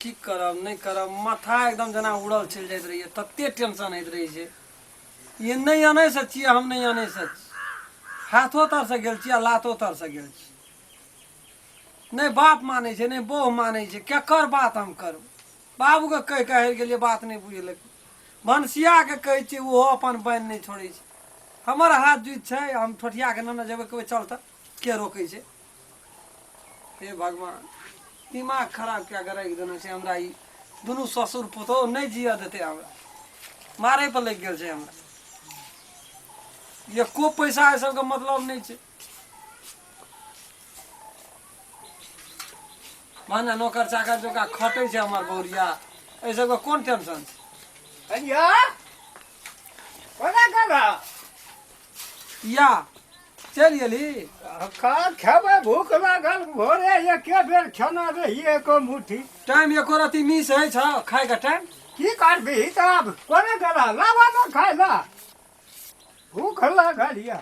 की करब नहि करब माथा एकदम जेना उड़ल चलि जाइत रहैए ततेक टेंशन होइत रहै छै ई नहि अनैसँ छियै हम नहि अनैसँ छी हाथो तरसँ गेल छी आ लातो तरसँ गेल छी नहि बाप मानै छै नहि बहु मानै छै केकर बात हम करू बाबूके कहि कऽ हारि गेलियै बात नहि बुझलक भनसियाके कहै छियै ओहो अपन बान्हि नहि छोड़ै छै हमर हाथ जुति छै हम ठोठियाके नेने जेबै कहबै चल तऽ के रोकै छै हे भगवान दिमाग खराब कए कऽ राखि देने छै हमरा ई दुनू ससुर पुतोह नहि जिअ देतै हमरा मारै पर लागि गेल छै हमरा एको पैसा एहि सबके मतलब नहि छै भने नौकर चाकर जोका खटै छै हमर बौरिया एहि सबके कोन टेंशन छै अनिया कोना कर रहा या चलि गेली का खेबै भूख लागल भोरे एके बेर खेना रहिए एको मुट्ठी टाइम एको रति मिस होइ छ खाएका टाइम की करबिही त आब कोने गेला लाबा न खाइ ल भूख लागल या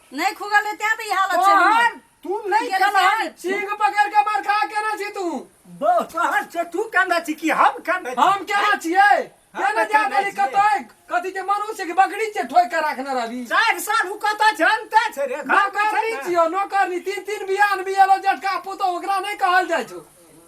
नहीं खुगल रहे तें तो ये हालत छै हमर। तोहर तू नहीं गेल कलहर तें। चींग पकड़ के मार खा केना छी तू बो तोहर से तू कहना छी कि हम कहना छी हम केना छियै केना हम जा केना देली छियै? कतै कथी के मनुष्य के बकरी छै ठोक के राखने रहली चार साल उ कत जानते छै रे घर नौकर पर नहीं छै ने। छियो नौकर नहीं तीन तीन बियान बियालो जटका पुतो ओकरा नहीं कहल जाइ छौ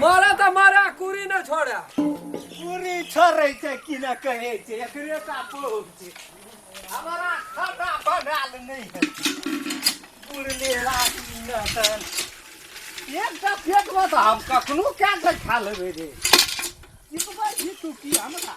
मारा तो मारा कुरी न छोड़ा कुरी छोड़े छे कि न कहे छे एकरे का पोग छे हमारा खाना बनाल नहीं है कुरले रात न तन एक टा फेक मत हम कखनो क्या से खा लेबे रे ई तो बात ही तू की हमरा